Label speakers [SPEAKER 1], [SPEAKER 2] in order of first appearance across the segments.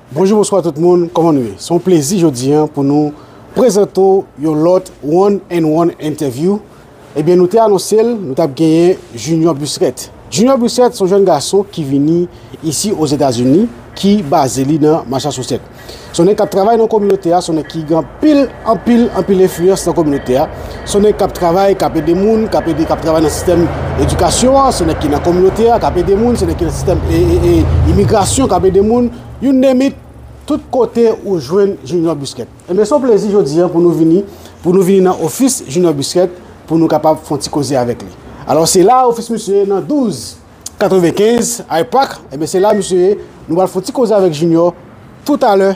[SPEAKER 1] Bonjou bonswa tout moun kòman nou ye se yon plezi jodi an pou nou prezante w yon lòt one and one entevyou ebyen nou te anonse l nou tap genyen Junior Busrèt Junior Busrèt se yon jèn gason ki vini isi ozetazini ki baze li nan Masachosèt se yon nèg kap travay nan kominote a se yon nèg ki gen Pil, anpil, anpil enfliyans nan kominote a. Se yon nèg k ap travay, k ap ede moun, k ap ede, k ap travay nan sistèm edikasyon an. Se yon nèg ki nan kominote a, k ap ede moun. Se yon nèg ki nan sistèm imigrasyon, k ap ede moun. You name it, tout kote ou jwenn Junior Busquet. Enben, se yon plezi jodi an pou nou vini, pou nou vini nan ofis Junior Busquet pou nou kapab fè yon ti koze avèk li. Alò, se la ofis misye ye nan 12, 95 Hyde Park. Enben, se la misye ye. Nou pral fè yon ti koze avèk Junior toutalè.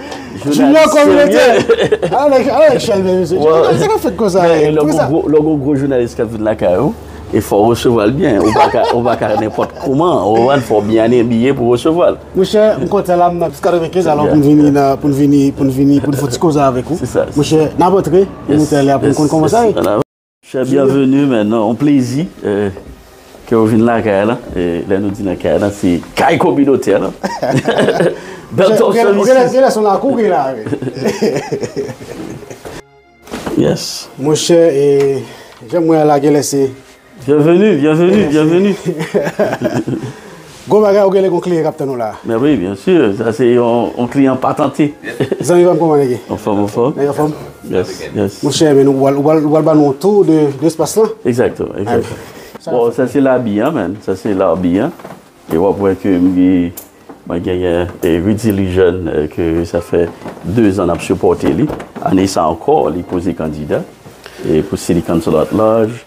[SPEAKER 1] Jounalist serye. A la nèg chalbè mesye. Jounalist sa kap fèt konsa. Lò gon gwo
[SPEAKER 2] jounalist kap vin lakay ou, e fò ou resevwa l byen. Ou pa ka nenpòt kouman. Ou wè, fò w byen abiye pou w resevwa l. Monchè, m kontan
[SPEAKER 1] la m nan plis 95 alò pou n vini nan, pou n vini, pou n vini, pou n fè ti koze avèk ou. Monchè, n ap
[SPEAKER 2] antre
[SPEAKER 1] nan motèl la pou n konn kòman sa ye. Chè
[SPEAKER 2] byenveni men nan yon plezi ke ou vin lakay an lan, e lè nou di lakay an lan se kay kominotè an lan.
[SPEAKER 1] Bèl tòl sòl isi. Ou genlè genlè son lakou gen la wi.
[SPEAKER 2] Yes. Monchè e
[SPEAKER 1] janm wè a la genlè se. Byenveni, byenveni,
[SPEAKER 2] byenveni.
[SPEAKER 1] Gon bagay ou genle gon klien kap tann ou la. Men wi bien sûr
[SPEAKER 2] sa se yon client patante. Zanmi pam koman
[SPEAKER 1] nèg ye. Anfom anfom. Nèg anfom.
[SPEAKER 2] Yes yes. Mon cher men ou
[SPEAKER 1] pral ou pral ban nou yon tour de espace lan. Exactement exactement.
[SPEAKER 2] Bon sa se labi an man sa se larbi an e wap wè ke mwen genyen Rudy Lejeune ke sa fè 2 zan nap sipòte li ane sa ankò li poze kandida pou City Council at large.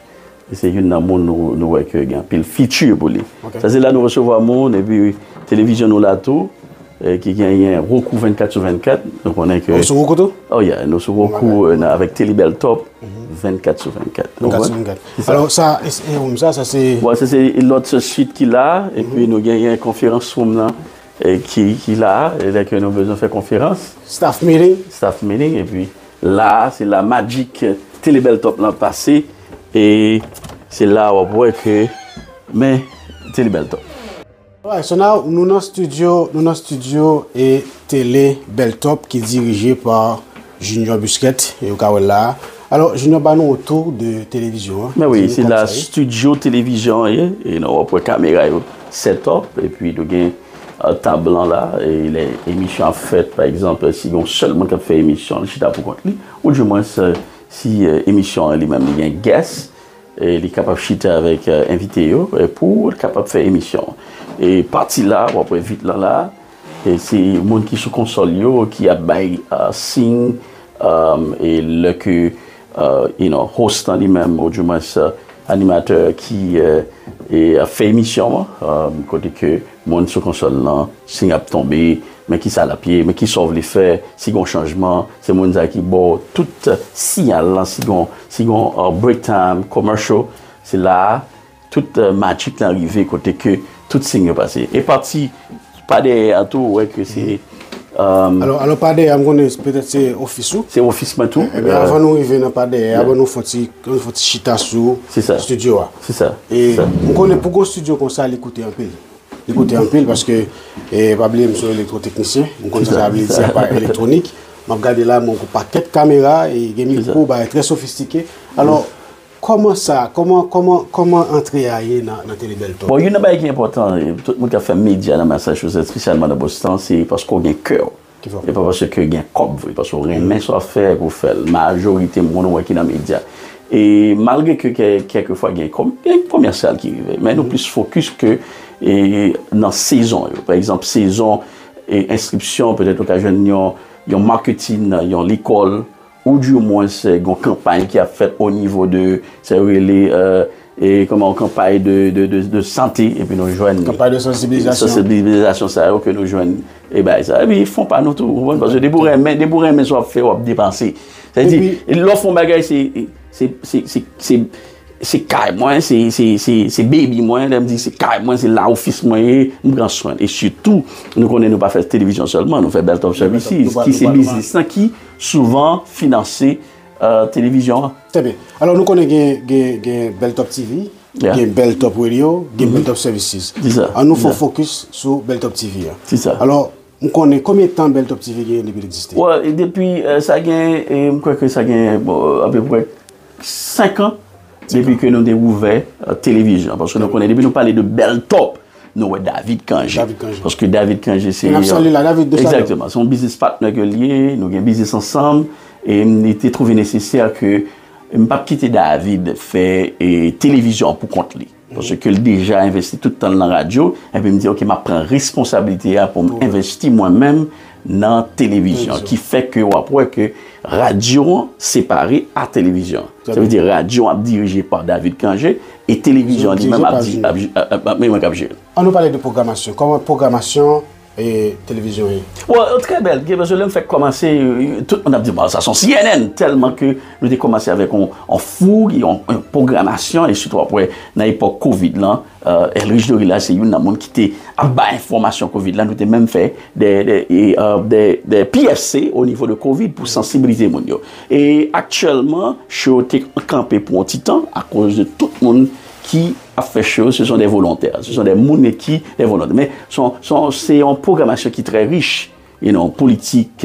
[SPEAKER 2] E se youn nan moun nou wè ke gen anpil fiti pou li. Sa se la nou resevwa moun epi televizyon nou la tou ki genyen Rokou 24 sou 24. Nou konnen ke... Ou sou Rokou tou? Oh yeah, nou
[SPEAKER 1] sou Rokou
[SPEAKER 2] avèk Telibèl Top 24 sou 24. 24 sou 24.
[SPEAKER 1] Alò sa, e oum sa, sa se... Bon, sa se lòt
[SPEAKER 2] se sit ki la epi nou genyen konferans woum nan ki la, e lè ke nou bezwen fè konferans. Staff meeting.
[SPEAKER 1] Staff meeting epi...
[SPEAKER 2] La a se la magic tele bel top lan pase e se la wap wè ke men tele bel top. Alright so now
[SPEAKER 1] nou nan studio nou nan studio e tele bel top ki dirije pa Junior Busquet e ou ka wèl la a alò Junior ba nou yon tou de televizyon an. Mèwi se la
[SPEAKER 2] studio televizyon an ye e nou wap wè kamera yo set up e pi nou gen. tab lan la, lè emisyon ap fèt, pa egzanp, si gen yon sèl moun k ap fè emisyon, li chita pou kont li, ou di mwens si emisyon an li menm li gen gès, li kapab chita avèk envite yo pou l kapab fè emisyon an. E pati la, w ap wè vit lan la, se moun ki sou konsòl yo ki ap bay siy, e lè ke you know, host lan li menm ou di mwens animatè ki ap fè emisyon an, kote ke moun sou konsòl lan, siy ap tonbe, men kisa lap ye, men kisa w vle fè, si gon chanjman, se moun sa ki ba w tout siyal lan, si gon break time, commercial, se la a Tout magic lan rive kote ke tout sign yo pase. E pati pa dèyè a tou ou wè ke se euh. Alò
[SPEAKER 1] pa dèyè a m konnen petèt se ofis ou. Se ofis mwen tou. Ebyen
[SPEAKER 2] avan nou rive nan pa
[SPEAKER 1] dèyè a ban nou fon ti chita sou studio a. Se sa. E
[SPEAKER 2] m konnen
[SPEAKER 1] pou gon studio konsa li koute anpil. Li koute anpil paske e pa bliye m se yon elektro teknisyen. M konnen sa sa vle di aparèy elektwonik. M ap gade la m wè gon pakèt kamera e gen mikwo bagay trè sofistike. Alò Kòman sa, kòman, kòman, kòman antre a ye nan, nan Tele Bèl Tòl? Bon, youn nan bagay ki enpòtan,
[SPEAKER 2] tout moun k ap fè medya nan Massachusetts, espesyalman nan Boston, se paske w gen kè w. Ki fè w fè sa? E pa paske gen kòb vre, paske w renmen sa w ap fè epi w fè l. Majorite moun ou wè ki nan medya. E malgre ke kè, kèlke fwa gen kòm, gen komèsyal ki rive. Men nou plis fokis ke e nan sezon yo. Pa egzanp, sezon e enskripsyon, petèt ou ka jwenn yon, yon marketing nan yon lekòl. Ou di omwen se gon kanpay ki ap fèt o nivo de sa yo rele e kòman o kanpay de sante epi nou jwenn. Kanpay de sansibilizasyon.
[SPEAKER 1] Sansibilizasyon
[SPEAKER 2] sa yo ke nou jwenn e bay sa. Epi fon pa nou tou. Ou konprann? Paske depi ou renmen, depi ou renmen sa w ap fè w ap depanse. Sa vle di lè w fè yon bagay se, se, se, se, se, se kay mwen, se, se, se, se baby mwen. Lè m di se kay mwen, se la ofis mwen ye. M pran swen l. E sitou nou konnen nou pa fè televizyon sèlman. Nou fè bèl top services ki se biznis lan ki. Souvan finanse televizyon an. Trè byen. Alò
[SPEAKER 1] nou konnen gen Bèl Top TV, gen Bèl Top Radio, gen Bèl Top Services. Se sa. An nou fè yon
[SPEAKER 2] fokis
[SPEAKER 1] sou Bèl Top TV a. Se sa. Alò,
[SPEAKER 2] m konnen
[SPEAKER 1] konbyen tan Bèl Top TV genyen depi l egziste? Wè, depi
[SPEAKER 2] sa gen, m kwè ke sa gen apeprè 5 an depi ke nou te ouvè televizyon. Paske nou konnen depi nou pale de Bèl Top. Nou wè David Cangé. Paske David Cangé se... Mwen ap sali la, David, de sa yo. Exactement. Se yon biznis patnè ke li ye, nou gen biznis ansanm, e m te trouve nesesè ke m pa p kite David fè televizyon pou kont li. Paske l deja envesti tout tan l nan radyo, epi m di ok, m ap pran responsabilite a pou m envesti mwen menm nan televizyon ki fè ke wap wè ke radyo an separe a televizyon sa vle di radyo an ap dirije pa David Cangé e televizyon an li menm ap di ap li menm kap jere l. An nou pale de
[SPEAKER 1] pwogramasyon kòman pwogramasyon televizyon ye? Bon trè
[SPEAKER 2] bèl paske lèm fèk kòmanse tout moun ap di bon sa son cnn tèlman ke Nou te kòmanse avèk yon fouy, yon pwogramasyon, e sitou apre nan epòk kovid lan, Elrich Dorila se youn nan moun ki te ap bay enfòmasyon kovid lan, nou te menm fè de PSC o nivo de kovid pou sansibilize moun yo. E aktyèlman, show yo te kanpe pou yon ti tan akoz de tout moun ki ap fè show yo se son de volontè, se son de moun ki de volontè. Men, se yon pwogramasyon ki trè rich, you know, politik,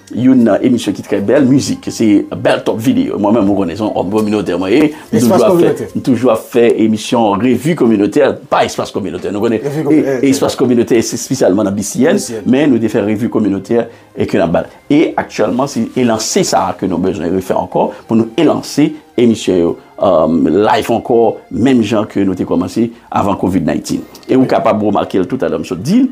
[SPEAKER 2] Youn nan emisyon ki trè bèl, mizik se bèl top video. Mwen menm ou konnen se yon òm kominotè mwen ye. Espas kominotè. M toujou ap fè emisyon revi kominotè, pa espas kominotè. Nou konnen espas kominotè se espesyalman nan BCN, men nou te fè revi kominotè e ke nan bal. E aktyèlman se elanse sa a ke nou bezwen refè ankò pou nou elanse emisyon yo live ankò menm jan ke nou te kòmanse avan covid 19. E ou kapab remake l toutalè m sot di l.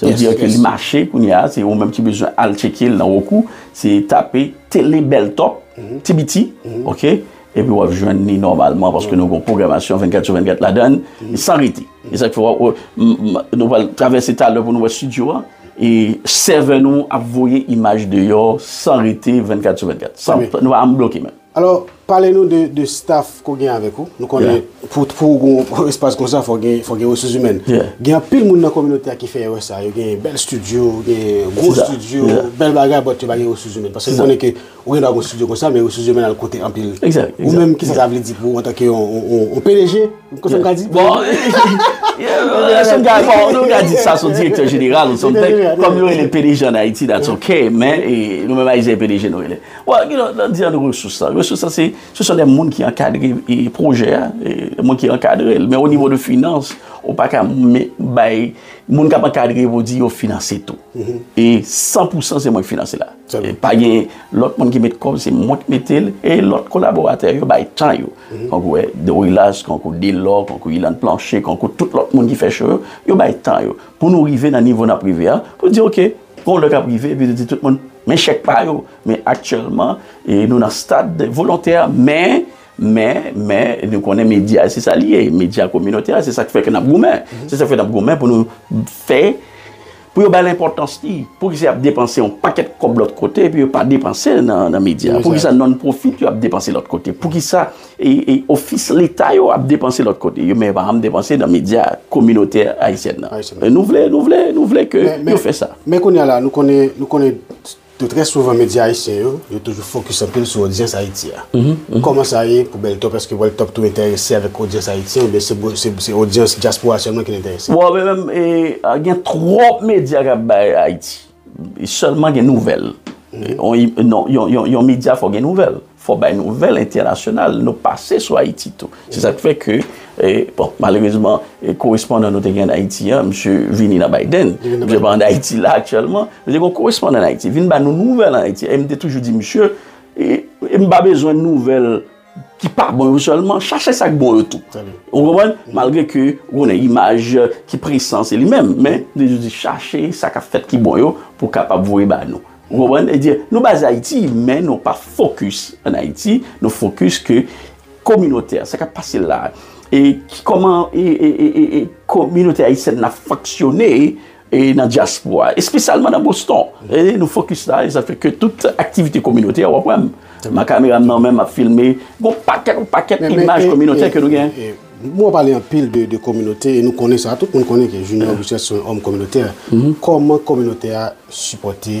[SPEAKER 2] Sa vle dire ke li mache kounye a, se ou menm ki bezwen al tcheke l nan Roku, se tape Tele Bèl Top, ti biti, ok, epi w ap jwenn li nòmalman paske nou gon pwogramasyon 24 sou 24 ladan l, san rete. E sa k fè w ap wè, nou pral travèse talè pou nou wè stidyo a, e sèvè nou ap voye imaj deyò san rete 24 sou 24, san, nou pa janm bloke menm. Alò, pale nou de
[SPEAKER 1] de staf ke w gen avèk ou. Nou konnen pou pou w gen yon espas konsa fò w gen fò w gen resous imèn. Gen anpil moun nan kominote a ki fè erè sa a. Yo gen bèl stidyo, gen gwo stidyo, bèl bagay bòt yo pa gen resous imèn. Paske m konnen ke ou gen dwa gen yon stidyo konsa men resous imèn al koute anpil. Ou menm kisa sa
[SPEAKER 2] vle di
[SPEAKER 1] pou ou antanke yon pdg? Kisa m ka di? Bon,
[SPEAKER 2] kisa m ka di? Bon, nou ka di sa son direktè jeneral ou something. Kòm yo rele l pdg an Ayiti that's ok men nou menm Ayisyen e pdg nou rele. Bon, gen lòt lòt diyan resous la. Resous la se, se son de moun ki ankadre pwojè a, de moun ki ankadre l. Men o nivo de finans, ou pa ka bay, moun k ap ankadre yo pou di yo finanse tou. E san pou san se mwen ki finanse la. Pa gen lòt moun ki met kòb, se mwen ki mete l. E lòt kolaboratè yo bay tan yo. Tankou wè, Dorilas, tankou Delò, tankou Ilann Planche, tankou tout lòt moun ki fè cho yo, yo bay tan yo. Pou nou rive nan nivo n ap rive a, pou di ok. Gen yon lè kap rive epi nou di tout moun men chèk pa yo, men aktyèlman nou nan stad volontè men, men, men nou konnen medya se sa li ye, medya kominotè a se sak fè ke nap goumen, se sak fè nap goumen pou nou fè pou yo bal enpòtans li, poukisa yap depanse yon pakèt kòb lòt kote epi yo pa depanse nan medya, poukisa non profit yo ap depanse lòt kote, poukisa Ofis leta yo ap depanse lòt kote, men yo pa janm depanse nan medya kominotè ayisyèn nan. Nou vle, nou vle, nou vle ke yo fè sa. Men kounye a la, nou konnen,
[SPEAKER 1] nou konnen ke trè souvan medya ayisyen yo, yo toujou fokis anpil sou odyans Ayiti a. Kòman sa ye pou Beltop? Eske Beltop tou enterese avèk odyans ayisyen oubyen se bon, se odyans dyaspora sèlman ki l enterese? Bon, men menm,
[SPEAKER 2] gen twòp medya k ap bay Ayiti. Sèlman gen nouvèl. Yon medya fò gen nouvèl. Fò bay nouvèl entènasyonal. Nou pase sou Ayiti tou. Se sa k fè ke, bon, malerezman, korespondan nou te gen an Ayiti an, msye vini nan Biden. Msye pa an Ayiti la aktyèlman. Men te gen yon korespondan an Ayiti. Vin ba nou nouvèl an Ayiti. E m te toujou di msye, m pa bezwen nouvèl. ki pa bon yo sèlman, chache sa k bon yo tou. Ou konprann? Malgre ke ou konnen imaj ki presan se li menm, men li toujou di chache sa k ap fèt ki bon yo pou w kapab voye ba nou. Ou konprann? E di nou baze Ayiti, men nou pa fokis an Ayiti, nou fokis ke kominotè, sa k ap pase la, e ki kòman e e e e e kominote ayisyèn nan fonksyone e nan dyaspora a, espesyalman nan Boston, e nou fokis la, e sa fè ke tout aktivite kominotè a, w ap wè m, m ak kamera m nan men, m ap filme, gon pakèt, yon pakèt imaj kominotè ke nou gen. Bon, w ap pale anpil
[SPEAKER 1] de kominote, e nou konnen sa, tout moun konnen ke Junior Gussaint se yon òm kominotè, kòman kominote a sipòte?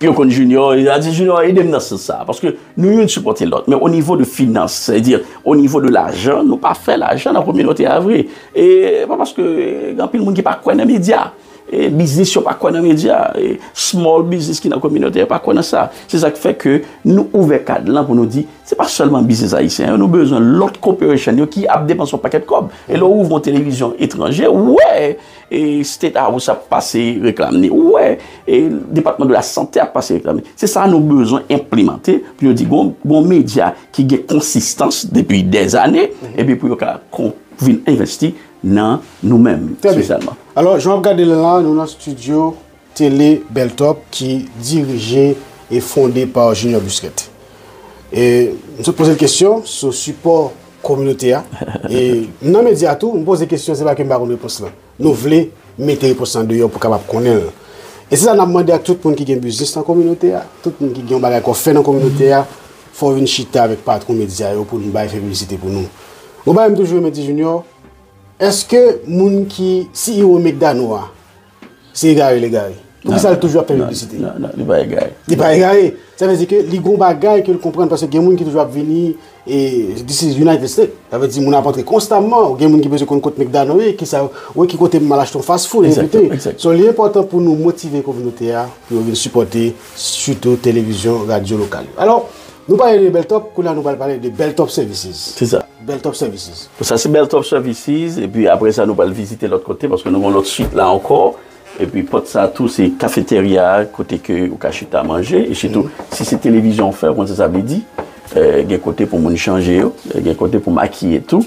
[SPEAKER 2] Yo konn Junior, yo di Junior ede m nan sans sa. Paske nou youn sipòte lòt. Men o nivo de finans, sa vle di o nivo de lajan, nou pa fè lajan nan kominote a vre. E pa paske gen anpil moun ki pa kwè nan medya. E biznis yo pa kwè nan medya. E small biznis ki nan kominote yo pa kwè nan sa. Se sa k fè ke nou ouvè kad lan pou nou di, se pa sèlman biznis ayisyen yo, nou bezwen lòt corporation yo ki ap depanse yon pakèt kòb. E lè w ouvè yon televizyon etranje, ou wè! State House ap pase reklam ni ou wè Depatman de la Sante ap pase reklam ni. Se sa nou bezwen enplemante pou yo di gon medya ki gen konsistans depi dèzane epi pou yo ka vin envesti nan nou menm espesyalman. Trè byen. Alò, jan w ap gade l
[SPEAKER 1] la, nou nan stidyo Tele Beltop ki dirije e fonde pa Junior Busquet. E m sot poze l kesyon sou sipò kominote a. E nan medya tou, m poze kesyon se pa ke m pa konn repons lan. Nou vle mete repons lan deyò pou kapab konnen l. E se sa n ap mande ak tout moun ki gen biznis nan kominote a, tout moun ki gen yon bagay ke w fè nan kominote a, fò w vin chita avèk patwon medya yo pou n bay fè piblisite pou nou. Yon bagay m toujou renmen di Junior, èske moun ki CEO McDano a, Se egare l egare. Poukisa l toujou ap fè piblisite? Non, non, li pa egare.
[SPEAKER 2] Li pa egare.
[SPEAKER 1] Sa vle di ke li gon bagay ke l konprann paske gen moun ki toujou ap vini e this is United States. Sa vle di moun ap antre konstamman ou gen moun ki bezwen konn kot McDonald ye, ki sa, ou e ki kote m al achte yon fast food e envite. So li enpòtan pou nou motive kominote a pou yo vin sipòte sitou televizyon, radyo lokal yo. Alò, Nou pale de Beltop, kounye a nou pral pale de Beltop Services. Se sa. Beltop
[SPEAKER 2] Services.
[SPEAKER 1] Sa se Beltop
[SPEAKER 2] Services, epi apre sa nou pral vizite lòt kote, paske nou gen yon lòt suit la ankò. Epi pòt sa tou se kafeterya a, kote ke ou ka chita manje. E sitou, si se televizyon ou fè, ou konn sa sa vle di. Gen kote pou moun chanje yo, gen kote pou makiye tou.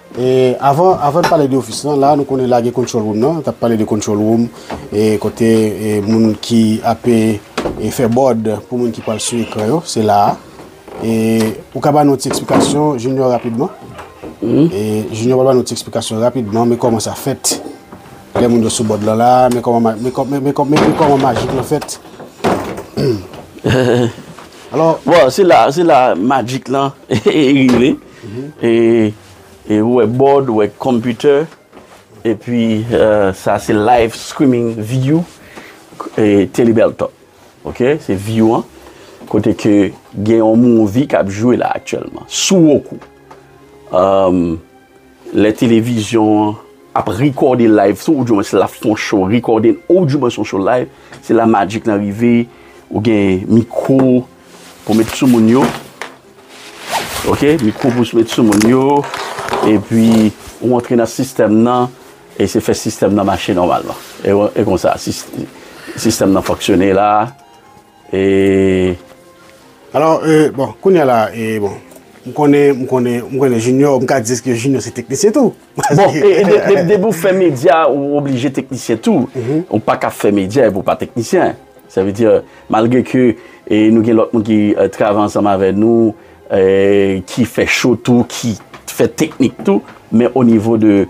[SPEAKER 1] Avan n pale de ofis lan, la nou konnen la gen control room nan, tap pale de control room kote moun ki ape fè bòd pou moun ki pral sou ekran yo, se la a. Ou ka ba nou ti eksplikasyon Junior rapidman? Junior pral ba nou ti eksplikasyon rapidman, men kòman sa fèt lè moun yo sou bòd lan la, men kòman majik lan fèt.
[SPEAKER 2] Bon, se la majik lan rive. E ou wè board, ou wè computer. E pi sa se live streaming view Telly Beltop. Ok se view an. Kote ke gen yon movie kap jwe la aktyèlman. Sou Roku. Le televizyon an ap rekòde live sou ou di mwen se la fon show rekòde ou di mwen son show live. Se la magic lan rive. Ou gen mikro pou met sou moun yo. Ok mikro pous met sou moun yo epi ou antre nan sistèm nan e se fè sistèm nan mache nòmalman e konsa sistèm nan fonksyone la e
[SPEAKER 1] alò e bon kounye la e bon m konnen m konnen m konnen junior m ka di deske junior se teknisyen tou Bon
[SPEAKER 2] e depi ou fè medya ou oblije teknisyen tou, ou pa ka fè medya epi ou pa teknisyen. Sa vle di malgre ke nou gen lòt moun ki travay ansanm avè nou ki fè cho tou, ki fè teknik tou, men o nivo de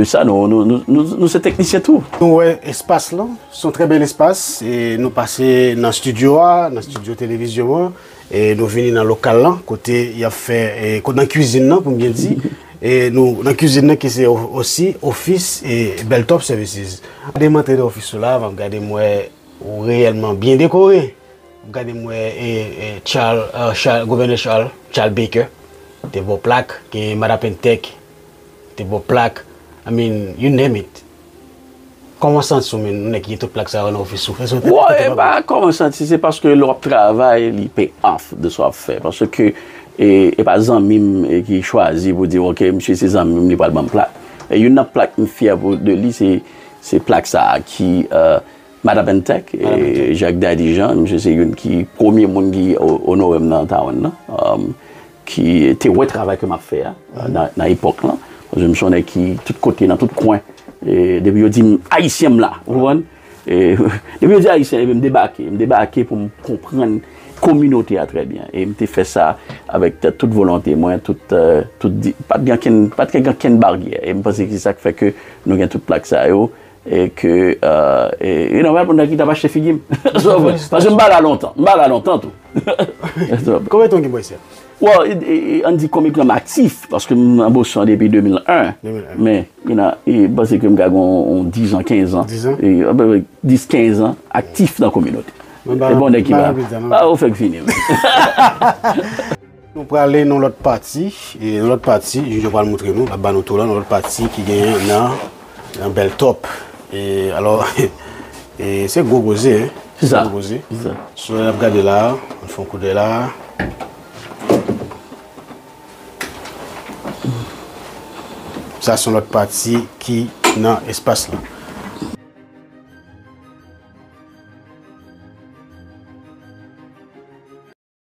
[SPEAKER 2] sa nou se teknisyen tou. Nou wè espas
[SPEAKER 1] lan, son trè bèl espas, nou pase nan studio a, nan studio televizyon an, E nou vini nan lokal lan kote yap fè e kote nan kwizin nan pou m byen di e nou nan kwizin nan ki se osi ofis e Bel Top Services. Gade m antre nan ofis ou la map gade m wè ou reyèlman byen dekore map gade m wè e e Chal Chal Gouvènè Chal Chal Bekè te ba w plak gen Madan Pentèk te ba w plak I mean you name it. Kòman santi w menn nèg ki gen tout plak sa yo nan ofis ou? Èske w te Bon, e pa
[SPEAKER 2] kòman santi, se paske lè w ap travay li pay off de sa w ap fè. Paske e pa zanmi m ki chwazi pou di ok misye se zanmi m li pral ban m plak. E youn nan plak m fyè pou de li se se plak sa a ki Madame Intèk, Jacques Daddy Jean, misye se youn ki premye moun ki onore m nan Taiwan nan. ki te wè travay ke m ap fè a nan epòk lan, paske m se yon nèg ki tout kote, nan tout kwen, depi yo di m Ayisyen m la, ou konprann, depi yo di Ayisyen epi m debake, m debake pou m konprann kominote a trè byen, e m te fè sa avèk tout volonte mwen, tout, tout, pa t gen ankenn, pa t gen ankenn baryè, e m panse se sa k fè ke nou gen tout plak sa yo, E ke, e nòmal pou Nike ta pa achte figi m. Paske m pa la lontan. M pa la lontan tou.
[SPEAKER 1] Konbyen tan w gen Boston? Well, an n
[SPEAKER 2] di konbyen tan m aktif, paske m nan Boston depi 2001. 2001. Men, you know, e pase ke m ka gen yon 10 an, 15 an. 10 an? E, anpepe 10, 15 an aktif nan kominote. Mwen ba, mwen ba yon plis dan. Ou fèk fini.
[SPEAKER 1] Nou prale nan lòt pati, e nan lòt pati, jij yo pral moutre nou, lap ba nou tou la, nan lòt pati ki genyen nan, nan Bèltòp. E, alò, e se gwo koze, hein. Se sa. Se gwo koze.
[SPEAKER 2] Se sa. Sou nap
[SPEAKER 1] gade la, ann fè yon koudèy la. Sa son lòt pati ki nan espas la.